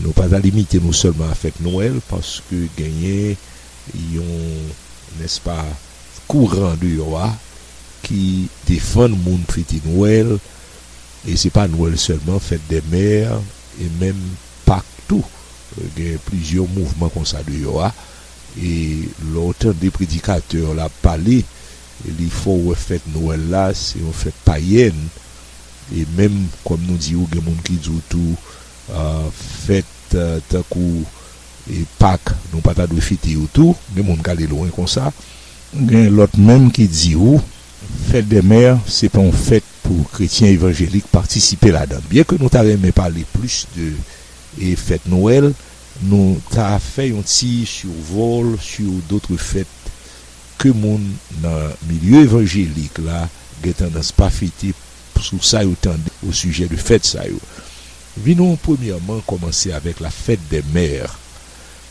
Nou pa ta limite nou sèlman a fèt Nwèl paske genyen yon, nèspa, kouran deyò a ki defann moun fete Nwèl e se pa Nwèl sèlman, fèt dè mè e menm Pak tou. Gen plizyè mouvman konsa deyò a e lè w tande predikatè w la ap pale li fè w wè fèt Nwèl la se yon fèt payèn e menm kòm nou di w gen moun ki di w tou Fèt tankou Pak, nou pa ta dwe fete yo tou. Gen moun k ale lwen konsa. Gen lòt menm ki di ou Fête des Mères se pa yon fèt pou kretyen evanjelik patisipe ladan. Byen ke nou ta renmen pale plis de fèt Nwèl, nou ta fè yon ti survol sur d'autres fêtes ke moun nan milye evanjelik la gen tandans pa fete Sou sa yo tande o sijè de fèt sa yo. Vinon premyèman kòmanse avèk la fête des mères.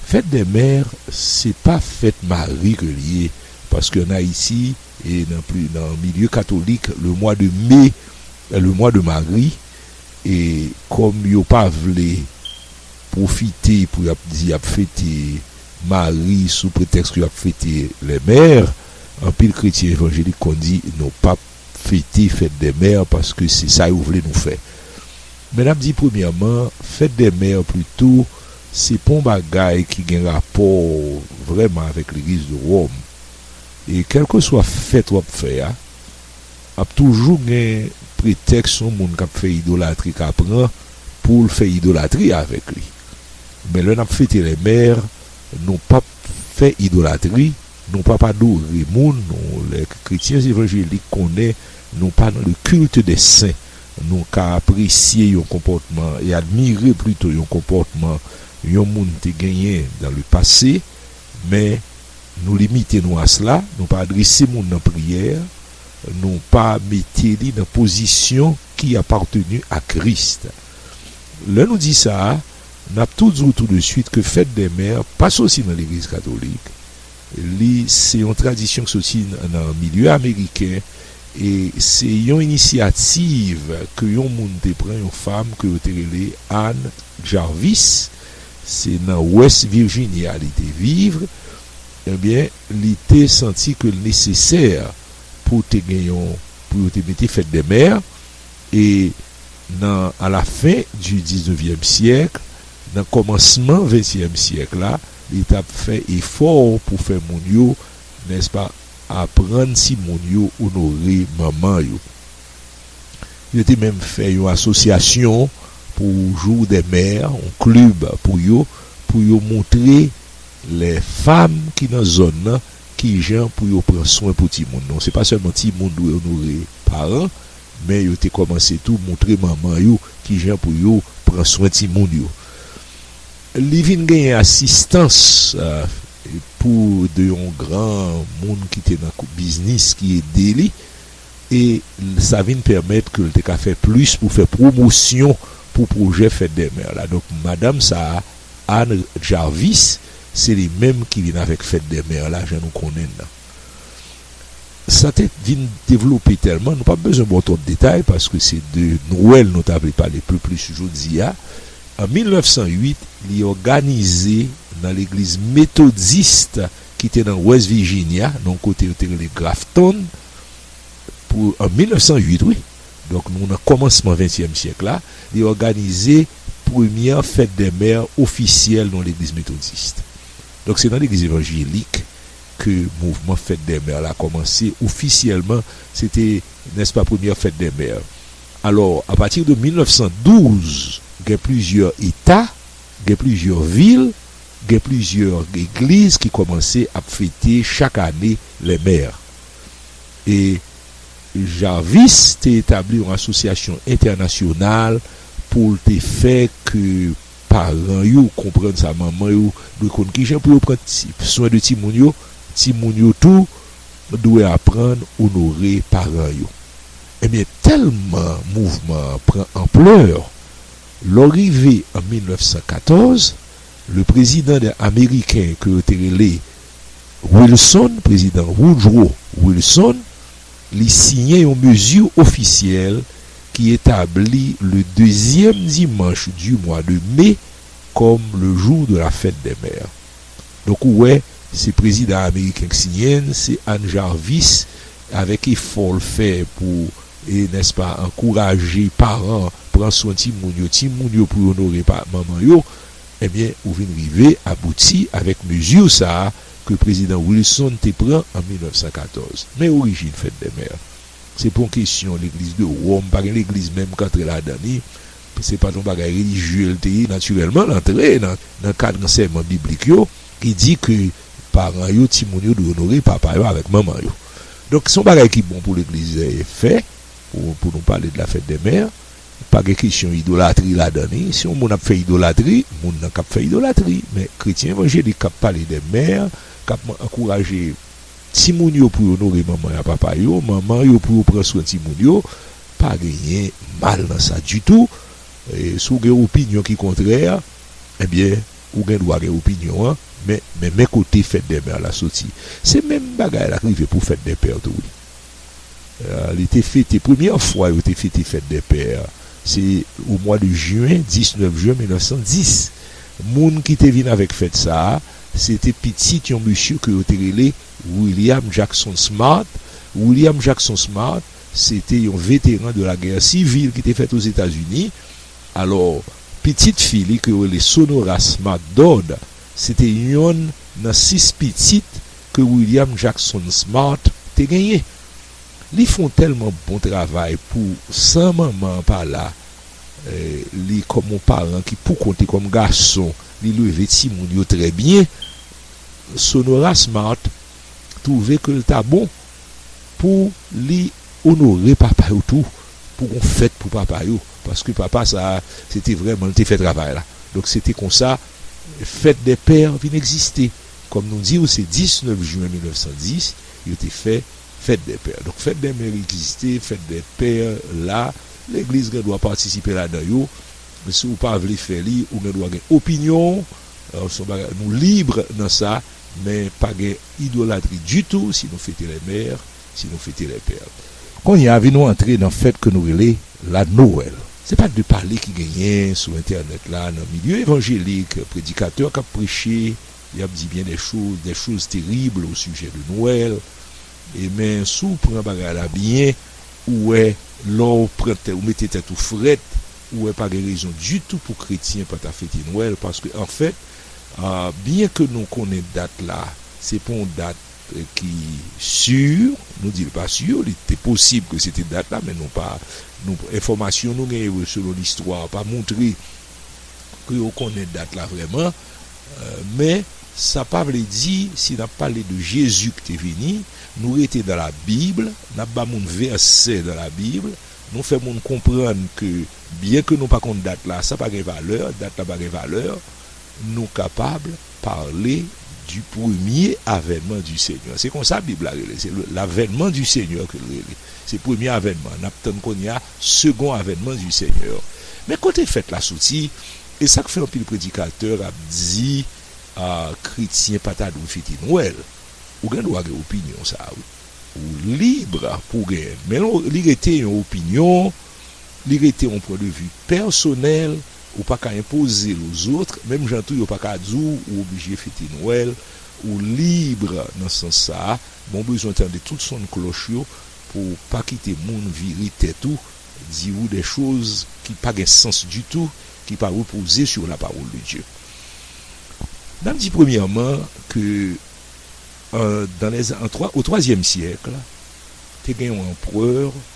Fête des mères se pa fèt mari ke li ye paske an Ayiti e nan pli nan milye katolik le mwa de me è le mwa de mari e kòm yo pa vle pwofite pou y ap di y ap fete mari sou pretèks ke y ap fete les mères anpil kretyen evanjelik konn di nou p ap fete fèt dè mè paske se sa yo vle nou fè men nap di premyèman fèt dè mè plito se pon bagay ki gen rapò vrèman avèk legliz de Ròm e kèlkeswa fèt wap fè a ap toujou gen pretèks yon moun kap fè idolatri ka pran poul fè idolatri avèk li men lè nap fete lè mè nou pap fè idolatri. Nou pap adore moun nou lè kretyen evanjelik konnen nou pa nan le culte des saints nou ka apresye yon konpòtman e admire plito yon konpòtman yon moun te genyen dans le passé men nou limite nou a cela nou pa adrese moun nan priyè nou pa mete li nan pozisyon ki appartenu a Christ lè nou di sa. N ap tou di w tou de suit ke Fèt dè Mè pa soti nan Legliz Katolik. Li se yon tradisyon ki soti nan milye ameriken e se yon inisyativ ke yon moun te pran, yon fam ke yo te rele Ann Jarvis. Se nan West Virginia li te viv. Ebyen, li te santi ke l nesesè pou te gen yon, pou yo te mete Fèt dè Mè. e nan a la fen di diznevyèm syèk, nan kòmansman ventyèm syèk la, li t ap fè efò pou fè moun yo, nèspa, aprann timoun yo onore manman yo. Yo te menm fè yon asosyasyon pou Jour des Mères, yon klib pou yo, pou yo montre lè fanm ki nan zòn nan, Kijan pou yo pran swen pou timoun. Non se pa sèlman timoun dwe onore paran, men yo te kòmanse tou moutre manman yo kijan pou yo pran swen timoun yo. Li vin genyen asistans pou de yon gran moun ki te nan biznis ki ede li e sa vin pèmèt ke l te ka fè plis pou fè pwomosyon pou pwojè Fête des Mères la. Donk madanm sa a. Anne Jarvis, se li menm ki vin avèk Fête des Mères la jan nou konnen l lan. Sa te vin devlope tèlman, nou p ap bezwen ba w twòp detay paske se de Nwèl nou ta vle pale pi plis jodi a. An 1908, li òganize nan legliz Metodist ki te nan West Virginia, nan yon kote yo te rele Grafton, pou an 1908 wi. Donk nou nan kòmansman ventyèm syèk la, li òganize premyè Fête des Mères ofisyèl nan legliz Metodist. Donk se nan legliz evanjelik ke mouvman Fête des Mères la kòmanse ofisyèlman, se te, nèspa, premyè Fête des Mères. Alò, apati de 1912, gen plizyè eta, gen plizyè vil, gen plizyè egliz ki kòmanse ap fete chak ane les mères. E. Jarvis te etabli yon asosyasyon entènasyonal pou l te fè ke paran yo konprann sa manman yo dwe konn kijan pou yo pran swen de timoun yo, timoun yo tou dwe aprann onore paran yo. Ebyen tèlman mouvman an pran anplè, lò rive an 1914, le prezidan de ameriken ke yo te rele. Wilson, Prezidan Woodrow Wilson, li siyen yon mezi ofisyèl ki etabli le dezyèm dimanch di mwa de me kòm le jou de la fèt dè mè. Donk ou wè, se prezidan ameriken k siyen l, se Ann Jarvis avèk efò l fè pou, nèspa, ankouraje paran pran swen timoun yo, timoun yo pou yo onore manman yo, Ebyen ou vin rive abouti avèk mezi sa ke Prezidan Wilson te pran an 1914. Men orijin Fèt dè Mè. Se pa yon kesyon legliz de Wòm, pa gen legliz menm k antre ladan li. Se pa t yon bagay relijye l te ye. Natirèlman l antre nan kad ansèyman biblik yo ki di ke paran yo, timoun yo dwe onore papa yo avèk manman yo. Donk se yon bagay ki bon pou legliz fè, pou nou pale de la Fèt dè Mè. Pa gen kesyon idolatri ladan li. Si yon moun ap fè idolatri, moun nan k ap fè idolatri. Men, kretyen evanjelik k ap pale de mè, k ap ankouraje timoun yo pou yo onore manman ak papa yo, manman yo pou yo pran swen timoun yo, pa genyen mal nan sa ditou. Si w gen opinyon ki kontrè, ebyen, ou gen dwa gen opinyon an. Men, men kote fèt dè mè la soti. Se menm bagay la k rive pou fèt dè pè tou wi. li te fete, premyè fwa yo te fete fèt dè pè a, se o mwa de jen, 19 jen 1910. Moun ki te vin avèk fèt sa a, se te pitit yon mesye ke yo te rele William Jackson Smart. William Jackson Smart, se te yon veteran de la gè sivil ki te fèt o Zetazini. Alò, pitit fi li ke yo rele Sonora Smart Dodd, se te yonn nan sis pitit ke William Jackson Smart te genyen. Li fon tèlman bon travay pou san manman an pa la, li kòm yon paran ki pou kont li kòm gason, li leve timoun yo trè byen. Sonora Smart twouve ke l ta bon pou li onore papa yo tou, pou gon fèt pou papa yo, paske papa sa a, se te vrèman li te fè travay la. Donk se te konsa Fête des Pères vin egziste. Kòm nou di w se 19 jwen 1910 yo te fè Fête des Pères. Donk Fête des Mères egziste, Fête des Pères la, legliz gen dwa patisipe ladan yo. Si w pa vle fè li, ou gen dwa gen opinyon w, se yon bagay nou libre nan sa, men pa gen idolatri ditou si nou fete les mères. Si nou fete lè pè. Kounye a vi nou antre nan fèt ke nou rele la Nowèl. Se pa de pale ki genyen sou entènèt la nan milye evanjelik, predikatè kap preche, yap di byen dè choz, dè choz teribl o sijè de Nowèl, e men si w pran bagay la byen, ou wè lè w pran tè, ou mete tèt ou frèt, ou wè pa gen rezon ditou pou kretyen pa ta fete Nwèl, paske anfèt, byen ke nou konnen dat la se pa yon dat. ki sur, nou di l pa sur, li te posib ke se te dat la, men nou pa, nou, enfòmasyon nou gen yo selon listwa pa montre ke yo konnen dat la vrèman, men sa pa vle di si n ap pale de Jezi ki te vini, nou rete nan la Bible, n ap ba moun vèsè nan la Bible, nou fè moun konprann ke byen ke nou pa konn dat la, sa pa gen valè, dat la pa gen valè, Nou kapab parle du premier avènman du Senyè. Se konsa Bib la rele l. Se l'avènman du Senyè ke l rele. Se premye avènman an. N ap tann kounye a segon avènman du Senyè an. Men kote fèt la soti, e sa k fè anpil predikatè ap di kretyen pa ta dwe fete Nwèl. Ou gen dwa gen opinyon sa a wi. Ou libre pou w genyen l. Men li rete yon opinyon. Li rete yon pwen de vi pèsonèl, ou pa ka enpoze l ozotre, menm jan tou yo pa ka di w ou oblije fete Nwèl, ou libre nan sans sa a, men w bezwen tande tout son klòch yo pou w pa kite moun vire tèt ou, di ou dè choz ki pa gen sans ditou, ki pa repoze sur la parole de Dieu. N ap di premyèman ke an dan lè, o twazyèm syèkl, te gen yon anprè,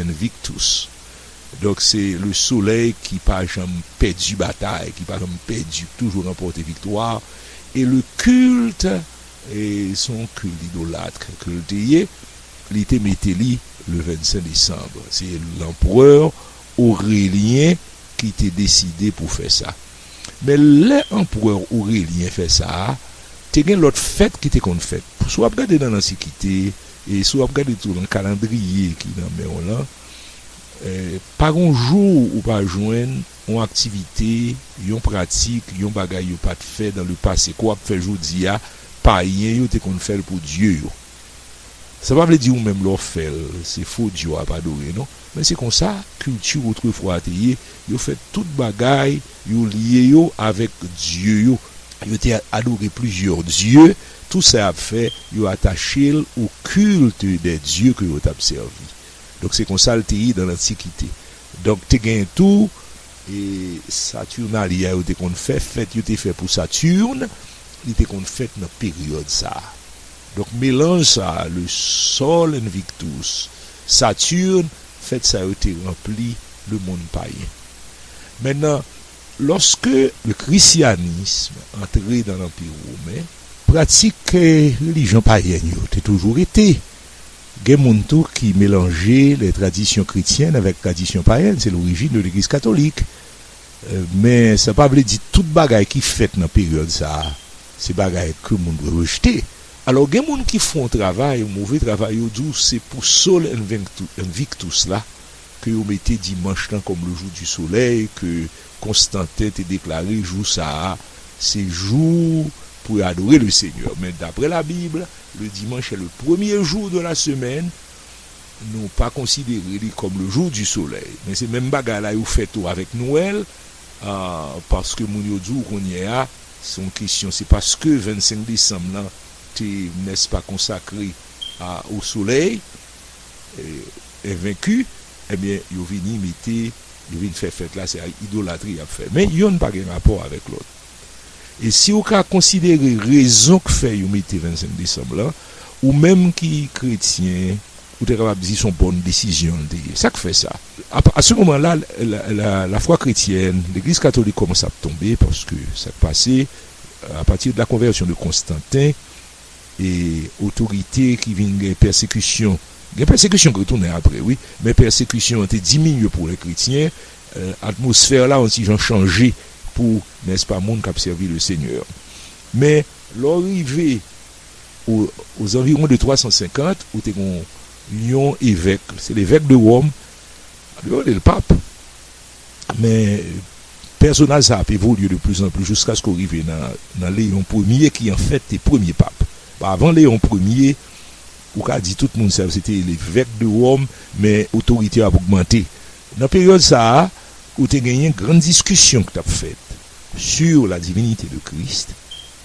Invictus. Donk se Le Soleil ki pa janm pèdi batay, ki pa janm pèdi, ki toujou ranpòte viktwa. E le culte, e se yon culte idolatre ke li te ye, li te mete li le 25 décembre. Se l'Empereur Aurélien ki te deside pou fè sa. Men lè Empereur Aurélien fè sa a, te gen lòt fèt ki te konn fèt. Sou wap gade nan lansikite, E si w ap gade tou nan kalandriye ki nan men w lan, pa gen yon jou ou pa jwenn yon aktivite, yon pratik, yon bagay yo pa t fè dan le pase, ke w ap fè jodi a, payen yo te konn fè l pou dye yo. Sa pa vle di ou menm lè w fè l, se fo dye w ap adore non. Men se konsa kilti otrefwa a te ye, yo fè tout bagay, yo lye yo avèk dye yo. Yo te adore plizyè dye, tout sa y ap fè, yo atache l o kilt dè dye ke yo t ap sèvi. Donk se konsa l te ye nan lantikite. Donk te gen tou e Saturnalia yo te konn fè, fèt yo te fè pou Saturne, li te konn fèt nan peryòd sa a. Donk melanj sa a, le Sol Invictus, Saturne, fèt sa yo te ranpli lemonn payen. Men nan, lòske. Le Krisyanism antre nan Lanpi Women. Pratik relijyon payèn yo te toujou rete. Gen moun tou ki melanje les traditions chrétiennes avec traditions païennes, c'est l'origine de l'Eglise catholique. Men sa pa vle di tout bagay ki fèt nan peryòd sa a se bagay ke moun dwe rejte. Alò gen moun ki fon travay, move travay yo di w se pou Sol Invictus la ke yo mete dimanch lan kòm le jour du soleil ke Constantin te deklare jou sa a se jou pou yo adore le Seigneur men daprè la Bible le dimanch est le premier jour de la semaine nou pa konsidere li kòm le jour du soleil men se menm bagay la yo fè tou avèk Noël Paske moun yo di w kounyè a, se yon kesyon, se paske 25 desanm lan te, nè s pa, konsakre a au soleil invaincu, ebyen yo vini mete, yo vin fè fèt la, se ak idolatri y ap fè. Men yonn pa gen rapò avèk lòt. E si ou ka konsidere rezon k fè yo mete 25 desanm lan, ou menm ki kretyen, Ou te kapab di son bòn desizyon l te ye. Sa k fè sa? A se moman la, lafwa kretyèn, legliz katolik kòmanse ap tonbe, paske sa k pase, a pati de la konvèsyon de Konstanten, e otorite ki vin gen pèsekisyon, gen pèsekisyon ki retounen apre wi, men pèsekisyon an te diminye pou lè kretyen, atmosfè la on ti jan chanje pou, nèspa, moun k ap sèvi le Senyè. Men, lè w rive. O zanviron de 350, ou te gen yon evèk, se levèk de Wòm, yo rele l pap, men pèsonaj sa ap evolye de pli zan pli jiskaske w rive nan Leyon premye ki anfèt te premye pap. Bon, avan Leyon premye, ou ka di tout moun sa yo se te levèk de Wòm, men otorite yo ap ogmante. Nan peryòd sa a, ou te genyen grann diskisyon ki t ap fèt sur la divinite de Christ,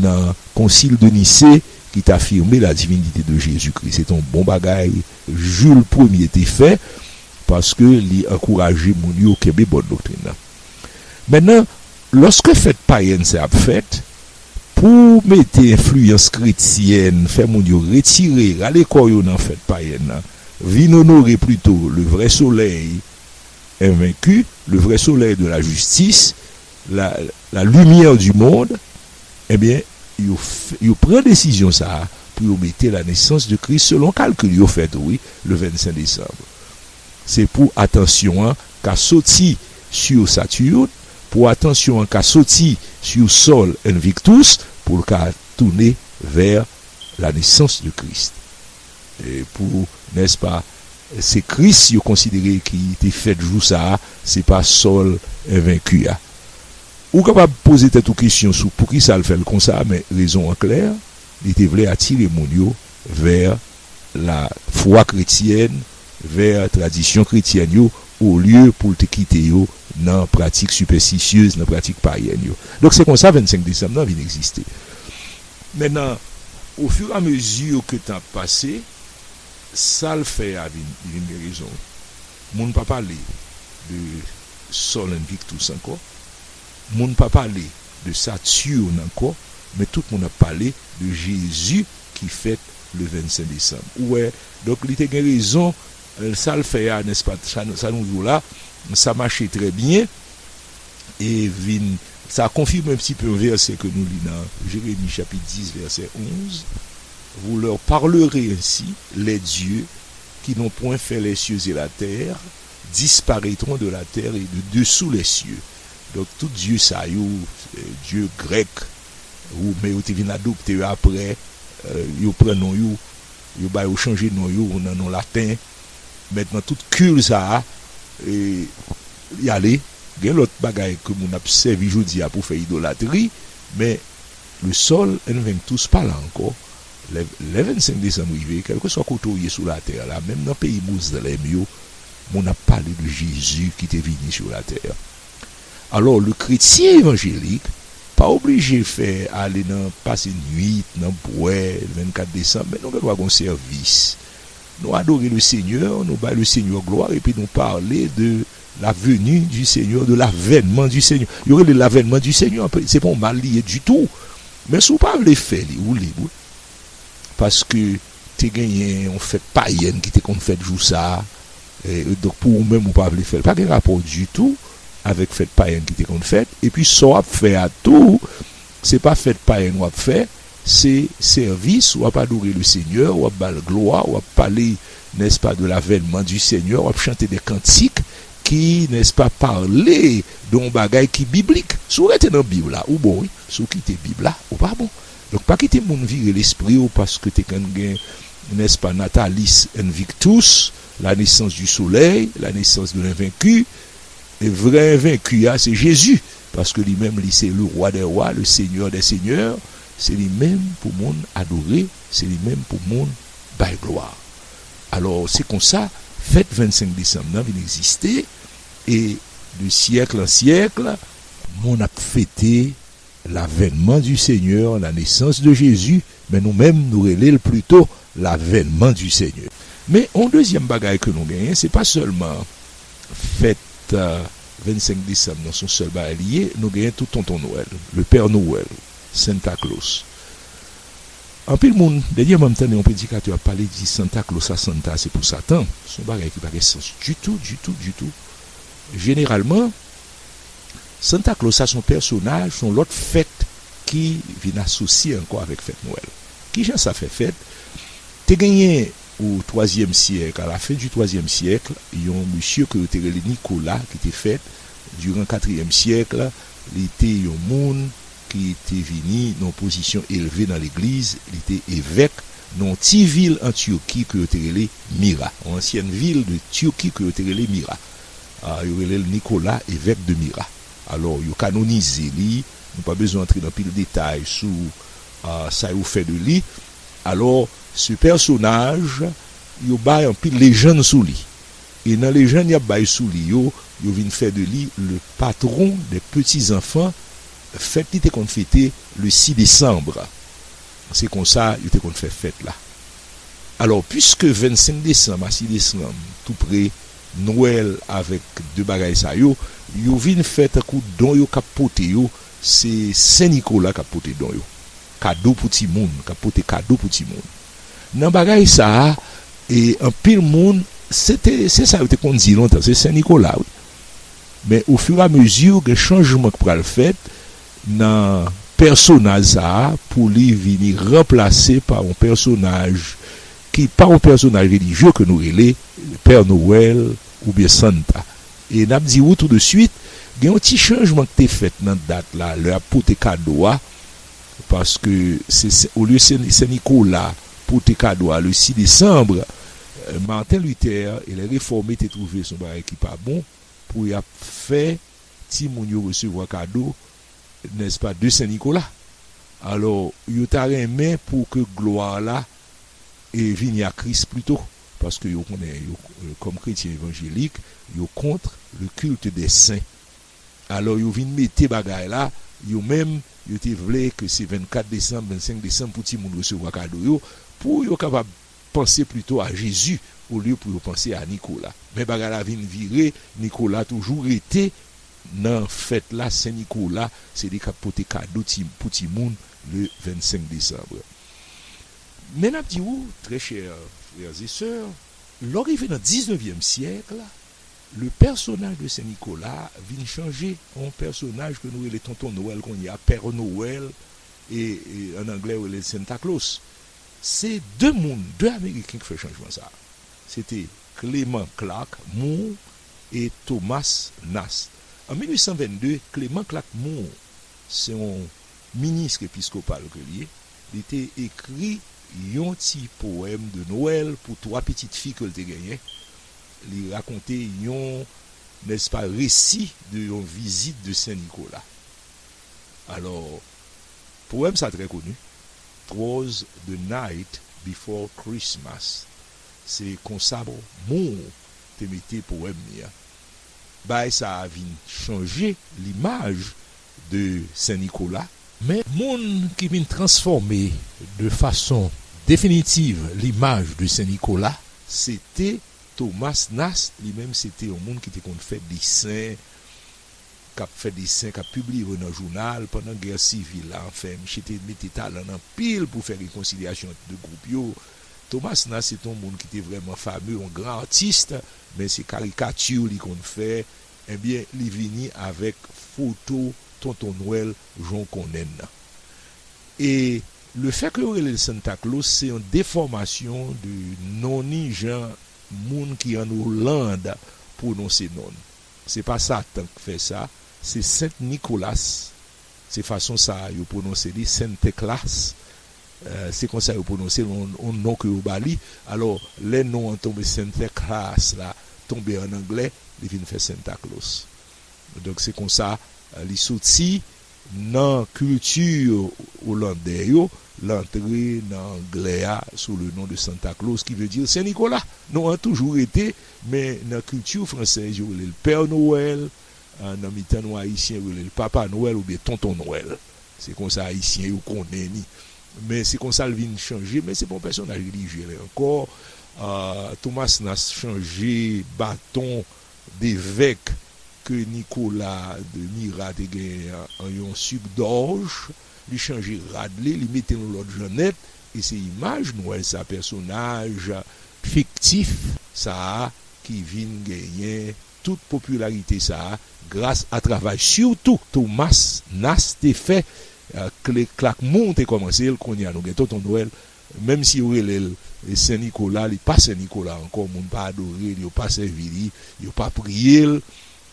Nan Concile de Nicée li t afirme la divinité de Jésus-Christ. Se te yon bon bagay Jules Premye te fè paske li ankouraje moun yo kenbe bon doktrin nan. Mennan, lòske fèt payèn sa ap fèt, pou mete enfliyans kretyèn fè moun yo retire, rale kò yo nan fèt payèn nan, vin onore plito le vrè solèy envenki, le vrè solèy de la jistis, la lumière du monde, ebyen yo yo pran desizyon sa pou yo mete la naissance de Christ selon kalkil yo fè tou wi le 25 décembre se pou atansyon an ka soti sur Saturne pou atansyon an ka soti sur Sol Invictus poul ka tounen vers la naissance de Christ. Pou, nèspa, se Kris yo konsidere ki te fèt jou sa a, se pa Sòl envenki a. Ou kapab poze tèt ou kesyon sou poukisa l fè l konsa, men rezon an klè, li te vle atire moun yo vè lafwa kretyèn, vè tradisyon kretyèn yo, olye pou l te kite yo nan pratik sipèstisyez, nan pratik payèn yo. Donk, se konsa 25 desanm nan vin egziste. Mentnan, ofiramezi ke tan ap pase, sa l fè a vin, li vin gen rezon. Moun pa pale de Sol Invictus ankò, moun pa pale de Saturne ankò, men tout moun ap pale de Jezi ki fèt le 25 desanm. Ou wè? Donk, li te gen rezon, sa l fè a, nèspa? Sa nou di w la, sa mache trè byen, e vin sa konfime un pti peu un vèsè ke nou li nan Jeremi chapit 10 vèsè 11, Vous leur parlerez ainsi, Les dieux qui n'ont point fait les cieux et la terre disparaîtront de la terre et de dessous les cieux. Donk tout dye sa yo, dye grèk, women yo te vin adopte yo aprè, yo pran non yo, yo ba yo chanje non yo nan non laten, Mèt nan tout kil sa a li ale. Gen lòt bagay ke moun ap sèvi jodi a pou fè idolatri, men le sol en veng tous pa la ankò. Lè 25 desanm rive, kèlkeswa kote ou ye sou latè la, menm nan peyi mozlèm yo, moun ap pale de Jezi ki te vini sou latè. Alò, le kretyen evanjelik pa oblije fè ale nan pase nuit, nan bwè 24 desanm, men nou gen dwa gen yon sèvis. Nou adore le Seigneur, nou bay le Seigneur glwa epi nou pale de la veni du Seigneur, de l'avènman du Seigneur. Yo rele l l'avènman du Seigneur, se pa yon mal li ye ditou. Men si w pa vle fè li, ou lib wi. Paske te genyen yon fèt payèn ki te konn fèt jou sa a, donk pou ou menm ou pa vle fè l, pa gen rapò ditou avèk fèt payèn ki te konn fèt. Epi sa w ap fè a tou. Se pa fèt payèn wap fè, se sèvis, wap adore le Senyè, wap bal glwa, wap pale nèspa de lavènman di Senyè, wap chante de kantik ki nèspa pale de yon bagay ki biblik. Si w rete nan Bib la, ou bon wi, si w kite Bib la, ou pa bon. Donk pa kite moun vire lespri w paske te konn gen nèspa Natalis Invictus, la naissance du soleil, la naissance de l'invaincu. E vrè envenki a se Jezi, paske li menm li se le Rwa dè Rwa, le Senyè dè Senyè, se li menm pou moun adore, se li menm pou moun bay glwa. Alò se konsa fèt 25 desanm nan vin egziste e de syèkl an syèkl, moun ap fete L'avènement du Seigneur, la naissance de Jésus, men nou menm nou rele l plito l'avènement du Seigneur. Men yon dezyèm bagay ke nou genyen, se pa sèlman fèt 25 desanm nan, son sèl bagay li ye, nou genyen tou Tonton Nwèl, le Père Noël, Santa Claus. Anpil moun, dènyèman m tande yon predikatè ap pale di Santa Claus a, Santa a se pou Satan, son bagay ki pa gen sans ditou, ditou, ditou. Jeneralman. Santa Claus sa son pèsonaj, son lòt fèt ki vin asosye ankò avèk fèt Nwèl. Ki jan sa fè fèt? Te genyen o twazyèm syèk, a la fen di twazyèm syèk, yon mesye ke yo te rele Nicolas ki te fèt diran katriyèm syèk, li te yon moun ki te vini nan yon pozisyon elve nan legliz, li te evèk nan yon ti vil an Turquie ke yo te rele Mira, yon ansyèn vil de Turquie ke yo te rele Mira. Yo rele l Nicolas, evèk de Mira. Alò, yo kanonize li. Nou pa bezwen antre nan pil detay sou sa yo fè de li. Alò, se pèsonaj, yo bay anpil lejann sou li. E nan lejann y ap bay sou li yo, yo vin fè de li le patron des petits enfants, fèt li te konn fete le 6 décembre. Se kon sa yo te konn fè fèt la. Alò, piske 25 décembre a 6 décembre tou pre, Nwèl avèk de bagay sa yo, yo vin fè tankou don yo k ap pote yo se Sen Nikola k ap pote don yo, kado pou timoun, k ap pote kado pou timoun. Nan bagay sa a, anpil moun, se te, se sa yo te konn di lontan, se Sen Nikola wi. Men ofiramezi, gen chanjman k pral fèt nan pèsonaj sa a pou li vini ranplase pa yon pèsonaj. ki pa yon pèsonaj relijye ke nou rele Pè Nowèl oubyen Santa. E n ap di ou tou de suit, gen yon ti chanjman k te fèt nan dat la, lè y ap pote kado a, paske se se olye se Sen Nikola pote kado a le 6 desanm, Marten Litè e lè refòme te twouve se yon bagay ki pa bon pou y ap fè timoun yo resevwa kado, nèspa, de Sen Nikola. Alò, yo ta renmen pou ke glwa la. vini a Kris plito, paske yo konnen yo kòm kretyen evanjelik yo kontr le culte des saints alò yo vin mete bagay la yo menm yo te vle ke se 24 desanm 25 desanm pou ti moun resevwa kado yo pou yo kapab panse plito a Jezi olye pou yo panse a Nikola men bagay la vin vire Nikola toujou rete nan fèt la Sen Nikola se li kap pote kado ti pou ti moun le 25 desanbre. Men n ap di ou, très chers frères et sœurs, lò rive nan diznevyèm syèk, le personnage de Sen Nikola vin chanje an yon pèsonaj ke nou rele Tonton Nwèl kounye a, Père Noël, e an anglè yo rele l Santa Claus. Se de moun, de Ameriken ki fè chanjman sa a. Se te Clément Clark Moore e Thomas Nast. An 1822, Clément Clark Moore se yon. Ministre episkopal ke l ye, li te ekri yon ti powèm de Nwèl pou 3 pitit fi ke l te genyen. Li rakonte yon, nèspa, resi de yon vizit de Sen Nikola. Alò, powèm sa trè koni, 'Twas the night before Christmas'. Se konsa Moore te mete powèm li an. Bagay sa a vin chanje limaj de Sen Nikola. Men moun ki vin transfòme de fason definitiv limaj de Sen Nikola, se te Thomas Nast, li menm se te yon moun ki te konn fè desen, k ap fè desen, k ap pibliye yo nan jounal pandan gè sivil la, anfen misye te mete talan l anpil pou fè rekonsilyasyon ant 2 gwoup yo. Thomas Nast se te yon moun ki te vrèman fame, yon gran artiste, men se karikati li konn fè. Ebyen li vini avèk foto tonton nwèl jan w konnen l lan. E le fè ke yo rele l Santa Claus se yon defòmasyon de non ni jan moun ki an Oland pwononse non l. Se pa Satan k fè sa, se Sent Nikolas. Se fason sa a yo pwononse li, Sentèklas. Se kon sa yo pwononse l, yon non ke yo ba li. Alò, lè non an tonbe, Sentèklas la tonbe ann anglè, li vin fè Sentaklòs. Donk, se kon sa li soti nan kilti olandè yo, l antre nan anglè a sou le non de Santa Claus, ki vle di Sen Nikola. Non an toujou rete, men nan kilti fransèz yo rele l Pè Nowèl, Nan mitan nou Ayisyen rele l Papa Nwèl oubyen Tonton Nwèl. Se konsa Ayisyen yo konnen li. Men se konsa l vin chanje. Men se pa yon pèsonaj relijye lè ankò. Thomas Nast chanje baton devèk ke Nikola de Mira te genyen an an yon sik dòj. Li chanje rad li, li mete l yon lòt jan nèt. E se imaj Nwèl sa, pèsonaj fiktif sa a ki vin genyen. Tout popilarite sa a gras a travay sitou Thomas Nast te fè, Click Clack Moo te kòmanse l, kounye a nou gen Tonton Nwèl, menm si yo rele l Sen Nikola, li pa Sen Nikola ankò, moun pa adore l, yo pa sèvi li, yo pa priye l,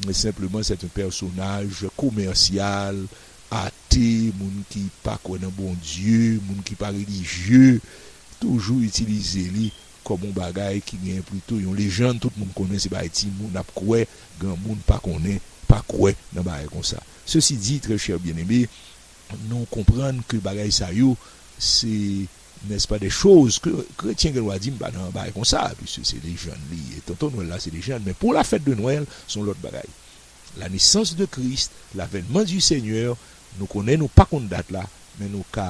senpleman sèt en pèsonaj komèsyal, ate, moun ki pa kwè nan Bondye, moun ki pa relijye toujou itilize li kòm yon bagay ki gen plito yon lejann tout moun konnen se bagay timoun ap kwè, granmoun pa konnen, pa kwè nan bagay konsa. Sesi di, trè chè byeneme, nou konprann ke bagay sa yo se, nès pa, dè choz ke kretyen gen dwa di m pa nan bagay konsa, piske se lejann li ye. Tonton Nwèl la se lejann, men pou la fèt de Nwèl se yon lòt bagay. La nesans de Kris, l'avènman di Senyè, nou konnen nou pa konn dat la, men nou ka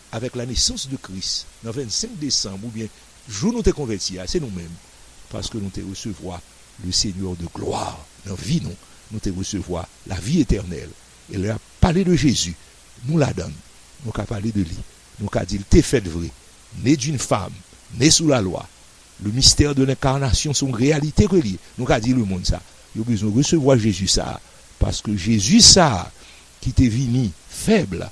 avèk la nesans de Kris nan 25 desanm oubyen jou nou te konvèti a, se nou menm, paske nou te resevwa le Seigneur de gloire nan vi nou, nou te resevwa la vi etènèl e lè yap pale de Jezi nou ladann, nou ka pale de li, nou ka dil te fèt vre, né d'une femme, né sous la loi, le mystère de l'incarnation son réalité ke li ye, nou ka di le moun sa yo bezwen resevwa Jezi sa paske Jezi sa ki te vini fèb la.